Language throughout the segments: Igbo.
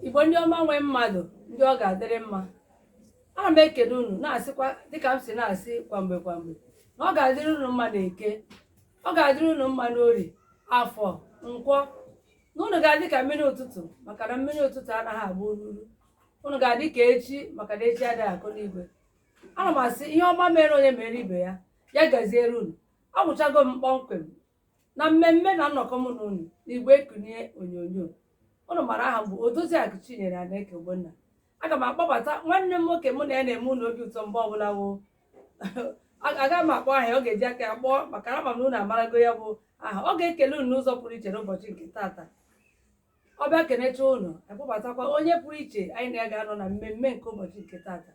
igbo ndị ọma nwe mmadụ ndị ọ ga-adịrị mma ana m ekele unu na-asịkwa dịka m si na-asị kwamgbe kwamgbe na ọ ga-adịrị unu mma na eke ọ ga-adịrị unu mma n'ori afọ nkwọ na unu ga-adị ka mmiri ụtụtụ maka na mmiri ụtụtụ anaghị agba ururu unu ga-adị ka echi maka na echi adịghị akọ n'igwe ana m asị ihe ọma mere onye mere ibe ya ya gaziere unu awụchago m kpọmkwem na mmemme na nnọkọ mụ na unu n'igwe ekunye onyonyo unu mara aha m bụ Odoziakụ Chinyere Anaeke Ogbonna aga m akpọbata nwanne m nwoke mụ na ya na-eme unu obi ụtọ mgbe ọbụla woo aga m akpọ aha ya ọ ga-eji aka ya kpọọ maka na ama m na unu amarago ya bụ aha ọ ga-ekele unu n'ụzọ pụrụ iche n'ụbọchị nke taata ọ bịa kenecha unu akpọbatakwa onye pụrụ iche anyị na ya ga-anọ na mmemme nke ụbọchị nke taata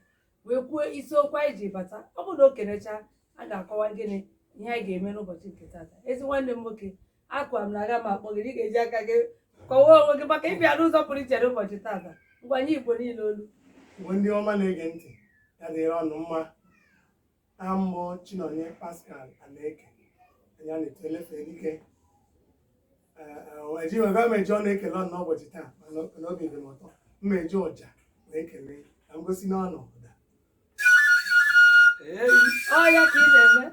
wee kwuo isiokwu anyị ji bata ọ bụrụ na o kenecha a ga-akọwa gịnị ihe anyị ga-eme n'ụbọchị nke tata ezi nwanne m nwoke akwa m na aga m akpọ gị na ị ga-eji aka gị kọwaa onwe gị maka ịbịa n'ụzọ pụrụ iche n'ụbọchị tata ngwa nye igbo niile olu Igbo ndị ọma na-ege ntị ya dịrị unu mma aha m bụ Chinonye Pascal Anaeke anya na-eto elefe dike eji wega m eji ọnụ ekele unu n'ụbọchị taa mana n'obi dị m ụtọ m eji ọja na-ekele ka m gosi unu ụda Ọ ya ka ị na-eme?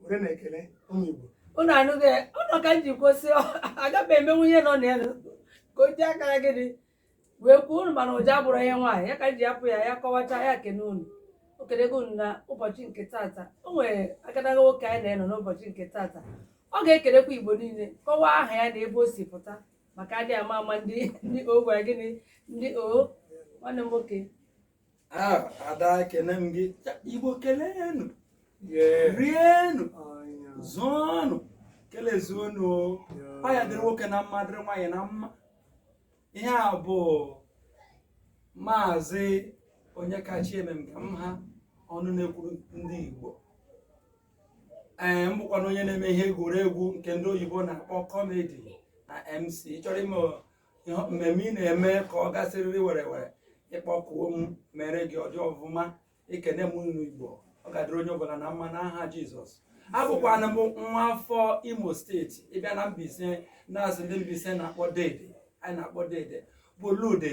were na-ekele ụmụ Igbo unu anụghị ụlọ ka m ji kwụsị agaghị emenwu ihe nọ na ya ka o ji aka ya gịnị wee kwuo unu mana ọja abụrọ ihe nwaanyị ya ka m ji hapụ ya ya kọwacha ya kene unu o kelego unu na ụbọchị nke tata o nwere agadaga nwoke anyị na ya nọ n'ụbọchị nke tata ọ ga-ekelekwa igbo niile kọwaa aha ya na ebe o si pụta maka adị ama ama ndị ndị o gwara gịnị ndị o nwanne m nwoke ada ekene m gị igbo keleenụ rienụ zụọnụ kelezuonụ ọ ya dịrị nwoke na mma dịrị nwaanyị na mma ihe a bụ maazị Onyekachi Emekemha ọnụ na-ekwuru ndị igbo ee m bụkwanụ onye na-eme ihe egwuregwu nke ndị oyibo na-akpọ kọmedi na mc chọrọ ime ihe mmemme ị na-eme ka ọ gaa sịrịrị were were ị kpọkuo m meere gị ọ dị ọfụma ekene m unu igbo ọ ga-adịrị onye ọbụla na mma n'aha jizọs abụkwanụ m nwa afọ imo steeti ị bịa na Mbaise na-asị ndị Mbaise na-akpọ dede anyị na-akpọ dede bụ Lude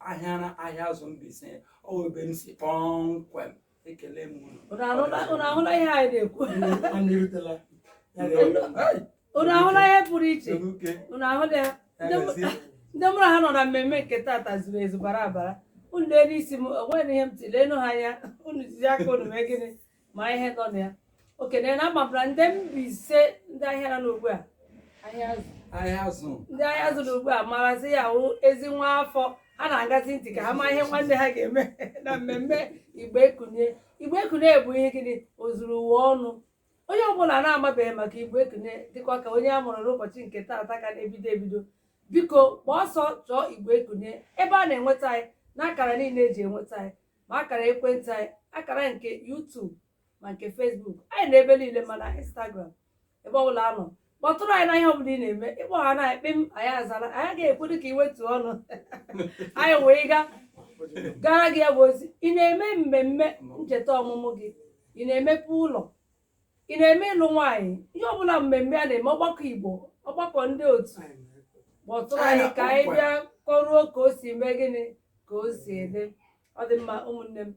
Ahịara Ahịazụ Mbaise ọ bụ ebe m si kpọmkwem ekele m unu. Unu ahụla unu ahụla ihe anyị na-ekwu Anyị erutela. Ya ga- unu ahụla ihe pụrụ iche Oke. unu ahụla ya Ndị mụ- Emezi. ndị mụrụ ha nọ na mmemme nke tata zuru ezu bara abara unu lee n'isi m onweghị ihe m tiri lenụ ha anya unu jizi aka unu mee gịnị ma ihe nọ na ya okenye na amabara ndị Mbaise ndị ahịa nọ n'ugbu a Ahịazụ Ahịazụ ndị Ahịazụ n'ugbu a marazi ya wụ ezi nwa afọ ha na-aṅazi ntị ka ha ma ihe nwanne ha ga-eme na mmemme Igbo Ekunie Igbo Ekunie bụ ihe gịnị ozuru ụwa ọnụ onye ọbụla na-amabeghị maka Igbo Ekunie dịkwa ka onye a mụrụ n'ụbọchị nke taata ka na-ebido ebido biko gbaa ọsọ chọọ Igbo Ekunie ebe a na-enweta anyị na akara niile eji enweta anyị ma akara ekwentị anyị akara nke YouTube ma nke Facebook anyị nọ ebe niile ma na Instagram ebe ọbụla a nọ kpọtụrụ anyị na ihe ọbụla ị na-eme ịkpọ ha na ekpe m anyị azara anyị agaghị ekwedị ka ị wetuo ọnụ anyị wee gaa gara gị ya bụ ozi ị na-eme mmemme ncheta ọmụmụ gị ị na-emepe ụlọ ị na-eme ịlụ nwaanyị ihe ọbụla mmemme a na-eme ọgbakọ Igbo ọgbakọ ndị otu kpọtụrụ anyị ka anyị bịa kọruo ka o si mee gịnị ka o si eme ọ dị mma ụmụnne m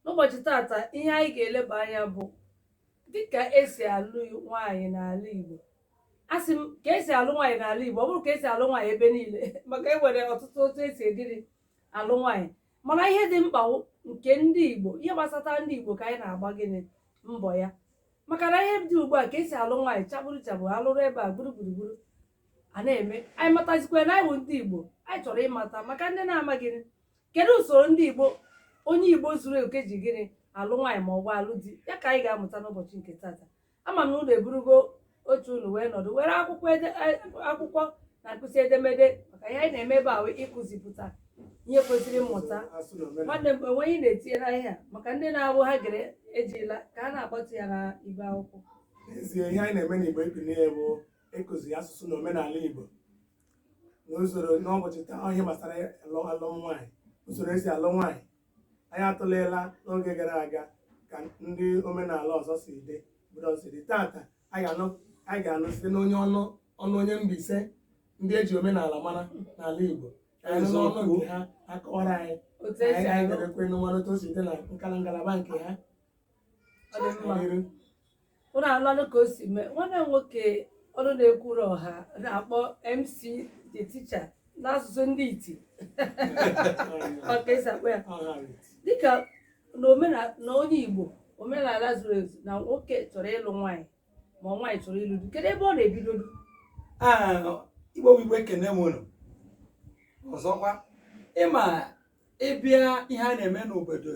n'ụbọchị tata ihe anyị ga-eleba anya bụ dịka esi alụ nwaanyị n'ala Igbo asị m ka esi alụ nwaanyị n'ala Igbo ọ bụghị ka esi alụ nwaanyị ebe niile maka e nwere ọtụtụ otu esidịrị alụ nwaanyị mana ihe dị mkpa wụ nke ndị Igbo ihe gbasata ndị Igbo ka anyị na-agba gịnị mbọ ya maka na ihe dị ugbu a ka esi alụ nwaanyị chabụrụ chabụrụ alụrụ ebe a gburu gburugburu a na-eme anyị matazikwa na anyị bụ ndị Igbo anyị chọrọ ịmata maka ndị na-amaghị kedu usoro ndị Igbo onye Igbo zuru oke ji gịnị alụ nwaanyị ma ọ bụ alụ di ya ka anyị ga-amụta n'ụbọchị nke tata ama m na unu eburugo oche unu wee nọdụ were akwụkwọ ede- eh, akwụkwọ na mkpịsị edemede maka ihe anyị na-eme ebe a wụ ịkụzipụta ihe kwesịrị mmụta nwanne m enwe ihe ị na-etinye na ihe a maka ndị na-awụ ha gere ejila aka na-akpatụ ya na ibe akwụkwọ n'ezie ihe anyị na-eme n'Igbo Ekunie bụ ịkụzi asụsụ na omenala igbo na usoro n'ụbọchị taa ihe gbasara alụm nwaanyị usoro esi alụ nwaanyị anyị atụleela n'oge gara aga ka ndị omenala ọzọ si dị obodo ọzọ si dị tata anyị ga-anụ site n'onye ọnụ ọnụ onye Mbaise ndị eji omenala mara n'ala Igbo anyị nụ n'ọnụ nke ha akọwara anyị otu anyị esi anyị alụ ga-ekwe mara otu o si dị na nkala ngalaba nke ha Ọ dị mma. N'iru. ụnụ anụlanụ ka o si mee nwanne m nwoke ọnụ na-ekwuru ọha na-akpọ MC the teacher n'asụsụ ndị iti ọ ka esi akpọ ya dịka na omena- na onye igbo omenala zuru ezu na nwoke chọrọ ịlụ nwaanyị ma nwaanyị chọrọ ịlụ di kedu ebe ọ na-ebidodu Ah, igbo bụ igbo ekene m unu ọzọkwa ịma ịbịa ihe a na-eme n'obodo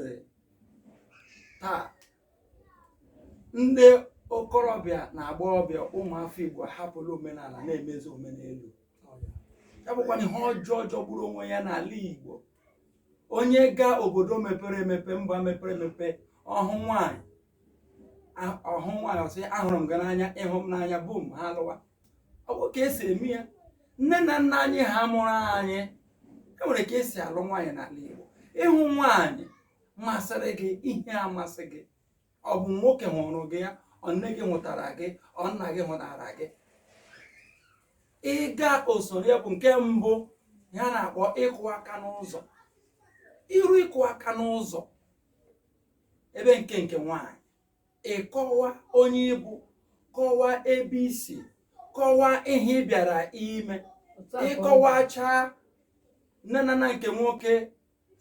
taa ndị okorobịa na agbọghọbịa ụmụafọ Igbo ahapụla omenala na-emezi omenelu ya bụkwa na ihe ọjọọ jọgburu onwe ya n'ala Igbo onye gaa obodo mepere emepe mba mepere emepe ọ hụ nwaanyị a- ọ hụ nwaanyị ọ sị ahụrụ m gị n'anya ị hụ m n'anya bum ha alụwa ọ bụghị ka esi eme ya nne na nna anyị ha mụrụ anyị e nwere ka esi alụ nwaanyị n'ala Igbo ị hụ nwaanyị masịrị gị ihe amasị gị ọ bụ nwoke hụrụ gị ya ọ nne gị hụtara gị ọ nna gị hụtara gị ị gaa usoro ya bụ nke mbụ a na-akpọ ịkụ aka n'ụzọ i ruo ịkụ aka n'ụzọ ebe nke nke nwaanyị ị kọwaa onye ị bụ kọwaa ebe i si kọwaa ihe ị bịara ime ị kọwachaa nne na nna nke nwoke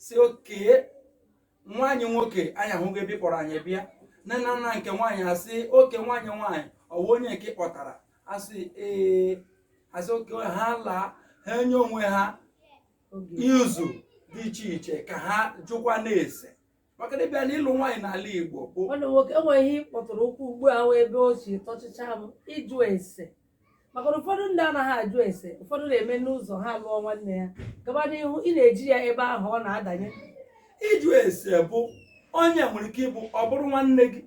sị okee nwa anyị nwoke anyị ahụgo ebe ị kpọrọ anyị bịa nne na nna nke nwaanyị asị okee nwa anyị nwaanyị ọ wụ onye nke ị kpọtara asị ee asị okee ha alaa ha enye onwe ha izu dị iche iche ka ha jụkwanụ ese maka na ịbịa n'ịlụ nwaanyị n'ala Igbo bụ nwanne m nwoke enwere ihe ị kpọtụrụ ụkwụ ugbu a wụ ebe o si tọchịcha m ịjụ ese maka na ụfọdụ ndị anaghị ajụ ese ụfọdụ na-eme n'ụzọ ha lụọ nwanne ya gaba n'ihu ị na-eji ya ebe ahụ ọ na-adanye ịjụ ese bụ onye nwere ike ịbụ ọ bụrụ nwanne gị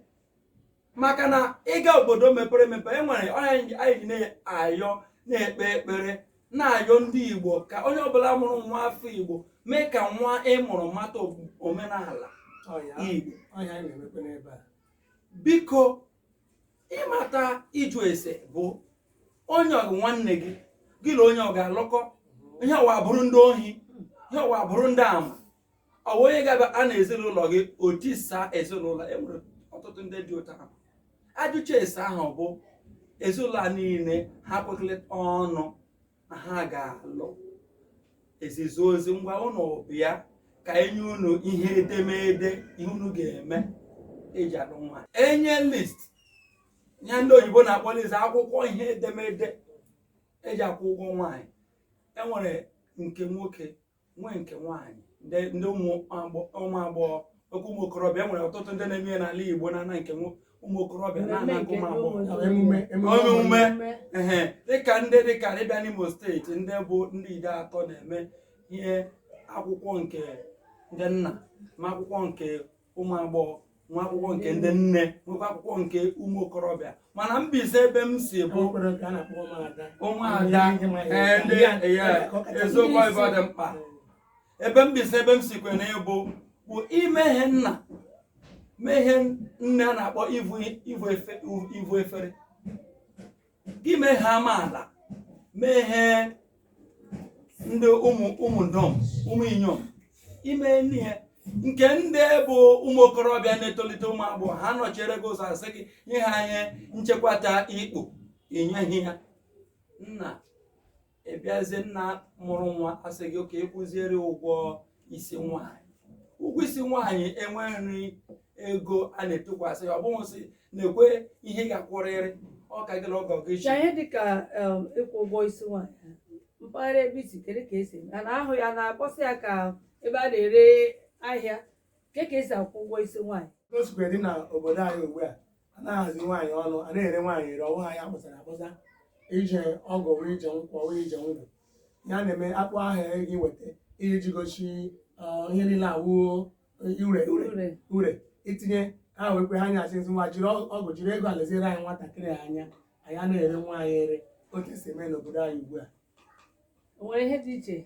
maka na ị gaa obodo mepere emepe e nwere ihe anyị ji na-ayọ na-ekpe ekpere na-ayọ ndị igbo ka onye ọbụla mụrụ nwa afọ igbo mee ka nwa ị mụrụ mata omenala igbo biko ịmata ịjụ ese bụ onye ọ bụ nwanne gị gị na onye ọ ga-alụkọ ihe ọwa bụrụ ndị ohi ihe ọwa bụrụ ndị ama ọ bụ onye ga-abịa na ezinụlọ gị o tisaa ezinụlọ enwere ọtụtụ ndị dị otu ahụ ajụcha ese ahụ bụ ezinụlọ a niile ha kwekọrịta ọnụ na ha ga-alụ e zizie ozi ngwa ụnụ bịa ka enye unu ihe edemede ihe unu ga-eme eji alụ nwaanyị enye list ihe ndị oyibo na-akpọ list akwụkwọ ihe edemede eji akwụ ụgwọ nwaanyị enwere nke nwoke nwee nke nwaanyị ndị ụmụ agbọghọ nke ụmụ okorobịa e nwere ọtụtụ ndị na-eme ya n'ala Igbo na-ana nke ụmụ okorobịa na-ana nke ụmụ agbọghọ emume ehe dịka ndị dịka ịbịa n'Imo steeti ndị bụ ndị Ideato na-eme ihe akwụkwọ nke ndị nna ma akwụkwọ nke ụmụ agbọghọ nwee akwụkwọ nke ndị nne nwekwa akwụkwọ nke ụmụ okorobịa mana Mbaise ebe m si bụ ụmụada eziokwu ebe ọ dị mkpa ebe Mbaise ebe m si kwe na ịbụ bụ ime ihe nna mee ihe nne a na-akpọ ivu efere gị mee ihe amaala mee ihe ndị ụmụ ụmụ ndọm ụmụ inyom ime n'ihe nke ndị bụ ụmụ okorobịa na-etolite ụmụ agbọghọ ha nọchiere gị ụzọ asị gị nye ha ihe nchekwata ikpu inyeghị ha nna ịbịazie nna mụrụ nwa asị gị ka ịkwụziere ụgwọ isi nwaanyị ụgwọ isi nwaanyị enweghị ego a na-etukwasị ya ọ bụghị sị na ekwe ihe ị ga-akwụrịrị ọ ka gị na ọgọ gị shi n'ihe dịka em, ịkwụ ụgwọ isi nwaanyị mpaghara ebe i si kedu ka esi eme a na-ahụ ya na-akpọsa ya ka ebe a na-ere ahịa Ke ka esi akwụ ụgwọ isi nwaanyị? O sikwa dị na obodo anyị ugbu a a na-ahazi nwaanyị ọnụ a na-ere nwaanyị ere ọ wụ ahịa akpọsara akpọsa ije ọgụ wee ije nkwọ wee ije ngwụ ya na-eme akpọ aha gị weta ihe ji gosi ọ, ihe niile awụ ure ure Ure. ure itinye ha wee kwe ha nya asị ngwa jiri ọ- ọgọ jiri ego a leziere anyị nwatakịrị a anya anyị a na-ere nwaanyị ere otu esi eme n'obodo anyị ugbu a nwere ihe dị iche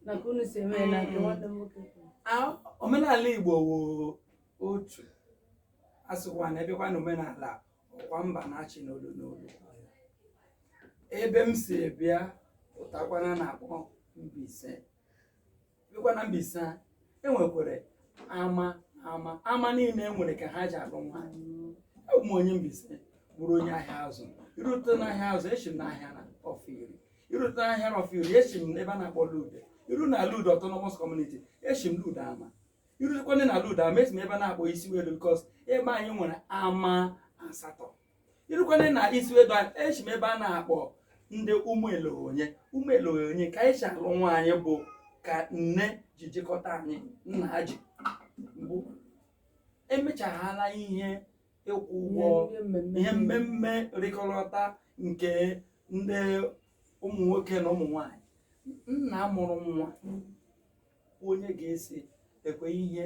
na ka unu si eme ya na nke Mm. nwanne m nwoke kwuru. A- omenala Igbo wụ otu asịkwa na abịakwa na omenala ọkwa mba na-achị n'olu n'olu ebe m si bịa pụtakwana na-akpọ Mbaise bịakwa na Mbaise a e nwekwara ama ama ama niile nwere ka ha ji alụ nwaanyị abụ m onye Mbaise bụrụ onye Ahiazu irute n'Ahiazu eshi m n'Ahiara Ọfọiri irute n'Ahiara Ọfọiri eshi m n'ebe a na-akpọ Lude iru na Lude autonomous community eshi m Lude ama irutekwana na Lude ama eshi m ebe a na-akpọ Isiwedu because ebe anyị nwere ama asatọ irukwana na Isiwedu a eshi m ebe a na-akpọ ndị ụmụ eleonye ụmụ eleonye ka anyị si alụ nwaanyị bụ ka nne ji jikọta anyị nna ha ji bụ emechaghala ihe ịkwụ ụgwọ ihe mmemme rikọrịta nke ndị ụmụ nwoke na ụmụ nwanyị nna mụrụ nwa wụ onye ga-esi ekwe ihe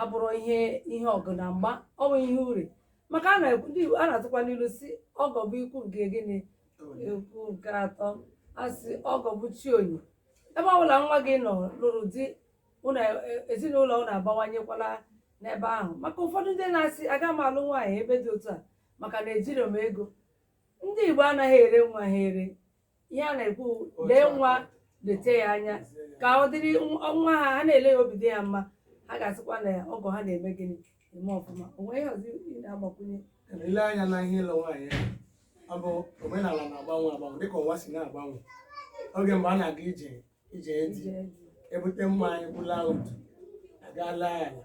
abụrụ ihe ihe ọgụ na mgba ọ bụ ihe ure maka a na-ekwu ndị Igbo a na-atụkwa n'ilu sị ọgọ bụ ikwu nke gịnị ikwu nke atọ a sị ọgọ bụ chi onye ebe ọbụla nwa gị nọ lụrụ di ezinụlọ unu agbawanyekwala n'ebe ahụ maka ụfọdụ ndị na-asị aga m alụ nwaanyị ebe dị otu a maka na ejiri m ego ndị Igbo anaghị ere nwa ha ere ihe a na-ekwu lee nwa leta ya anya ka ọ dịrị nwa ha ha na-ele ya obi dị ya mma ha ga-asịkwa na ọgọ ha na-eme gịnị eme ọfụma o nwee ihe ọzọ ị na-agbakwunye i lee anya na ihe ịlụ nwaanyị a ọ bụ omenala na-agbanwe agbanwe dịka ụwa si na-agbanwe oge mgbe a na-aga ije di ebute mmanya ọbụla otu agaala ya ala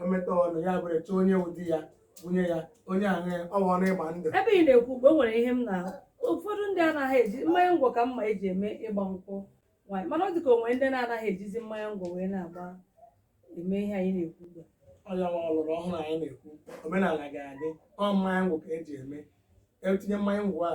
o meta ọnụ ya buru chọọ onye wụ di ya bunye ya onye ahụ ya ọ bụnụ ịgba ndụ ebe ị na-ekwu ugbu a o nwere ihe m na ụfọdụ ndị anaghị eji mmanya ngwọ ka m ma eji eme ịgba nkwụ nwaanyị mana ọ dị ka o nwere ndị na-anaghị ejizi mmanya ngwọ wee na-agba eme ihe anyị na-ekwu ugbu a ọ ya wụ ọlọrọ ọhụrụ anyị na-ekwu omenala ga-adị ọ mmanya ngwọ ka eji eme etinye mmanya ngwọ a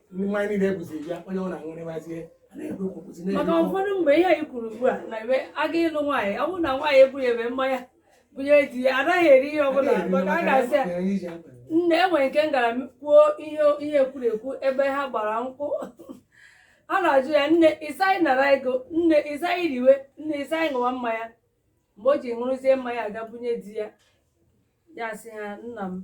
ndị mmanya niile ebuzi bịa onye ọ na-aṅụrịbazie a na-ekwu okwu kwụsị maka na-ekwu okwu. ụfọdụ mgbe ihe anyị kwuru ugbu a na ebe a ga ịlụ nwaanyị ọ bụrụ na nwaanyị ebughịbe mmanya bunye di ya anaghị eri ihe ọbụla maka a ga-asị ya Onye iji akwa. nne enwere nke m gara m kwuo ihe ihe ekwuru ekwu ebe ha gbara nkwụ a na-ajụ ya nne ịsaghị nara ego nne ịsaghị riwe nne ịsaghị ṅụwa mmanya mgbe o ji buruzie mmanya ga bunye di ya ya sị ha nna m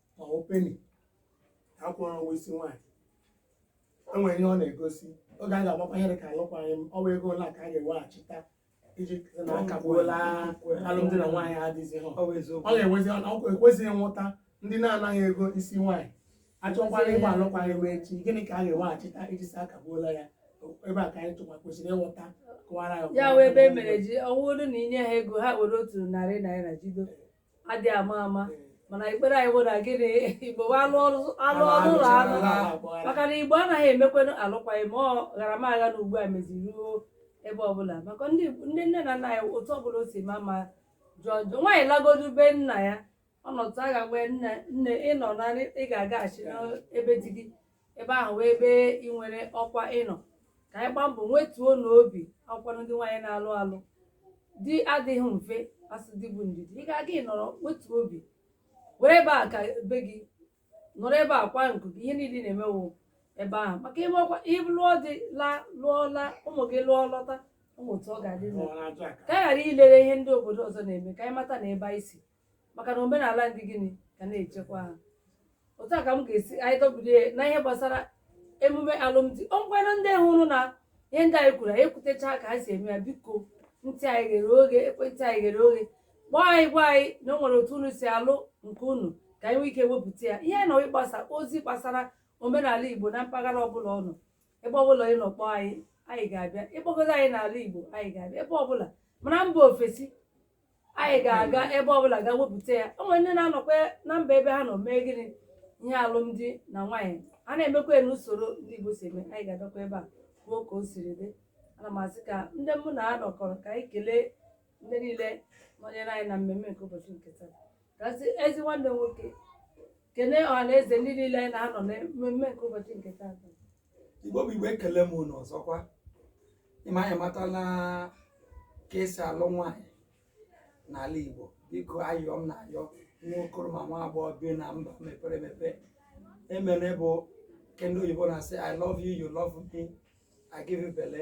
ma ọ wụ peni akwụrụ ụgwọ isi nwaanyị e nwere ihe ọ na-egosi oge a ga-agbakwa ihe dị ka alụkwaghị m ọwa ego ole ka a ga-eweghachita iji sị na akagbuola alụmdi na nwaanyị adịghịzi ha Ọ bụ eziokwu. ọ ga-enwezi ọkwa ekwesị ịghọta ndị na-anaghị ego isi nwaanyị achọkwara ịgba alụkwaghị m echi gịnị ka a ga-eweghachita iji sị akagbuola ya ebe a ka anyị tụkwa kwesịrị ịghọta kọwara ya ya wụ ebe e mere ji ọ wụrụ na i nye ha ego ha were otu narị naira jido adị ama ama mana ekpere anyị bụ na gịnị igbo bụ alụ ọrụ alụ ọrụ ụlọ anụ maka na igbo anaghị emekwanụ alụkwaghị m ọ ghara m agha na ugbu a meziri ruo ebe ọbụla maka ndị ndị nne na nna ya otu ọbụla o si maa mma jọọ njọ nwaanyị lagodu be nna ya ọ nọtụ a ga-agwa nne nne ị nụ na ị ga-agaghachi n'ebe di gị ebe ahụ wụ ebe ị nwere ọkwa ị nụ ka anyị gbaa mbọ wetuonụ obi ọkwanụ ndị nwaanyị na-alụ alụ di adịghị mfe a sị di bụ ndidi ị ga-aga ịnọrọ wetuo obi were ebe a ka be gị nọrọ ebe a kwa nku gị ihe niile na-emewo ebe ahụ maka ime ọkwa ị lụọ di laa lụọ laa ụmụ gị lụọ lọta ụmụ otu ọ ga-adị ka anyị ghara ilere ihe ndị obodo ọzọ na-eme ka anyị mata na ebe anyị si maka na omenala ndị gịnị ka na-echekwa ha otu a ka m ga-asị anyị dọbiri ya na ihe gbasara emume alụmdi ọ ngwanụ ndị hụrụ na ihe ndị anyị kwuru anyị ekwutecha ka ha si eme ya biko ntị anyị ghere oghe ekwentị anyị ghere oghe kpọọ anyị gwa anyị na o nwere otu unu si alụ nke unu ka anyị nwee ike wepụta ya ihe anyị nọ ịgbasa ozi gbasara omenala igbo na mpaghara ọbụla ọ nọ ebe ọbụla ị nọ kpọọ anyị anyị ga-abịa ị kpọgodo anyị n'ala igbo anyị ga-abịa ebe ọbụla ma na mba ofesi anyị ga-aga ebe ọbụla gaa wepụta ya o nwere ndị na-anọkwa na mba ebe ha nọ mee gịnị ihe alụmdi na nwaanyị a na-emekwa ya n'usoro ndị Igbo si eme anyị ga-agakwa ebe a kwuo ka o siri dị ana m asị ka ndị mụ na ha nọkọrọ ka anyị kelee ndị niile nọnyere anyị na mmemme nke ụbọchị nke taa ka sị ezi nwanne m nwoke kelee ọha na eze ndị niile anyị na-anọ na mmemme nke ụbọchị nke taa igbo bụ igbo ekele m unu ọzọkwa ị ma anyị amatala ka e si alụ nwaanyị n'ala igbo biko ayọ m na-ayọ nwa okoro ma nwa agbọghọ bi na mba mepere emepe emere bụ ke ndị oyibo na-asị i love you you love me i give you belle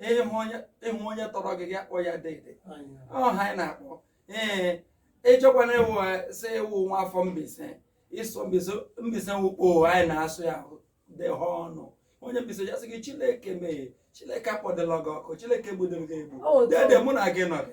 ị hụ onye ị hụ onye tọrọ gị gị akpọọ ya dede ọha anyị na-akpọ ee ị chọkwana ị wụ sị ị wụ nwa afọ mbaise ị sụ mbaise mbaise wukpo anyị na-asụ ya dị ha ọnụ onye mbaise ja-asị gị chineke mee chineke akpọdịla gị ọkụ chineke gbudoro gị egbu Ọ dị. dede mụ na gị nọdị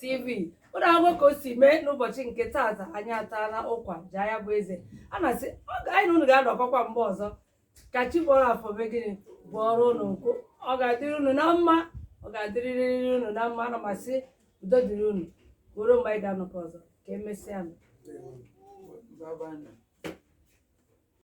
TV ụlọ akwụkwọ ka o si mee n'ụbọchị nke taata anyị ataala ụkwa jaa ya bụ eze ana m asị ọ ga- anyị na unu ga-anọkọkwa mgbe ọzọ ka chi bọọrọ afọ mee gịnị bọọrọ unu nkụ ọ ga-adịrị unu na mma ọ ga-adịrịrịrị unu na mma ana m asị udo dịrị unu ruo mgbe anyị ga-anọkọ ọzọ ka emesịa nụ Bye bye now.